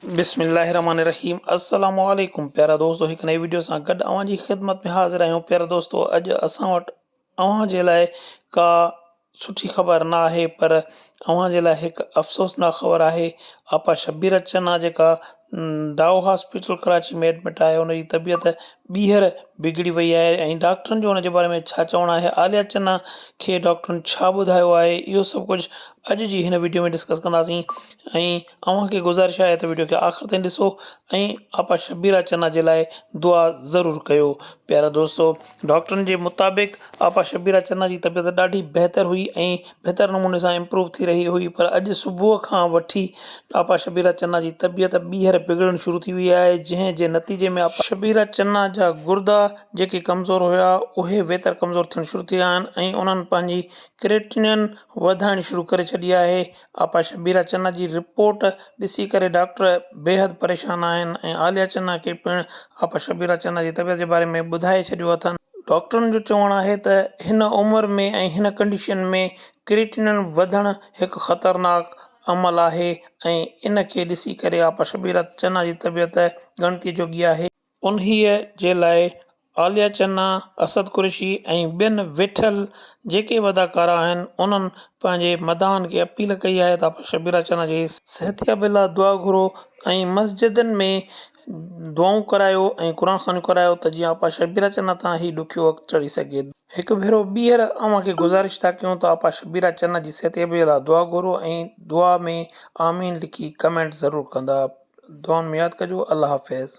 بسم الله الرحمن الرحيم السلام عليڪم پيارا دوستو هڪ نئي ويڊيو سان گڏ اوهان جي خدمت ۾ حاضر آهيون پيارا دوستو اڄ اسان وٽ اوهان جي لاء ڪا سٺي خبر نه آهي پر اوهان جي لاء هڪ افسوسناڪ خبر آهي آپا شبير چنا جيڪا ڊاو هاسپيٽل ڪراچي ۾ ايڊمٽ آهي ان جي طبيعت ٻيهر بگڙي وئي آهي ۽ ڊاڪٽرن جو ان جي باري ۾ ڇا چوڻ آهي عاليا چنا کي ڊاڪٽرن ڇا ٻڌايو آهي اهو سڀ ڪجهه اڄ جي هن ويڊيو ۾ ڊسڪس ڪنداسين ۽ اوهان کي گذارش آهي ته وڊيو کي آخر تائين ڏسو ۽ آپا شبيرا چنا جي لاء دعا ضرور ڪيو پيارا دوستو ڊاڪٽرن جي مطابق آپا شبيرا چنا جي طبيعت ڏاڍي بهتر هئي ۽ بهتر نموني سان امپروو ٿي رهي هئي پر اڄ صبح کان وٺي آپا شبيرا چنا جي طبيعت ٻيهر بگڙڻ شروع ٿي وئي آهي جنهن جي نتيجي ۾ آپا شبيرا چنا جا گردا جيڪي ڪمزور هيا اهي ويتر ڪمزور ٿيڻ شروع ٿي ويا آهن ۽ انهن پنهنجي ڪريٽنين وڌائڻ شروع ڪري ڇڏي آهي آپا شبير اچنا جي رپورٽ ڏسي ڪري ڊاڪٽر بيحد پريشان آهن ۽ عاليه اچنا کي پڻ آپا شبير اچنا جي طبيعت جي باري ۾ ٻڌائي ڇڏيو اٿن. ڊاڪٽرن جو چوڻ آهي ته هن عمر ۾ ۽ هن ڪنڊيشن ۾ ڪريٽينن وڌڻ هڪ خطرناڪ عمل آهي ۽ ان کي ڏسي ڪري آپا شبير اچنا جي طبيعت ڳڻتي جوڳي آهي. انهيء جي لاء عاليه چنا، اسد قريشي ۽ ٻين ويٺل جيڪي به اداڪارا آهن انهن پنهنجي مداحن کي اپيل ڪئي آهي ته آپريشن شبيلا چنا جي صحتيابي لاء دعا گهرو ۽ مسجدن ۾ دعائون ڪرايو ۽ قرآن خوانيون ڪرايو ته جيئن آپا شبيلا چنا تان هي ڏکيو وقت ٽري سگهي. هڪ ڀيرو ٻيهر اوهان کي گذارش ٿا ڪيون ته آپا شبيلا چنا جي صحتيابي لاء دعا گهرو ۽ دعا ۾ آمين لکي ڪمينٽ ضرور ڪندا دعائن ۾ ياد ڪجو الله حافظ.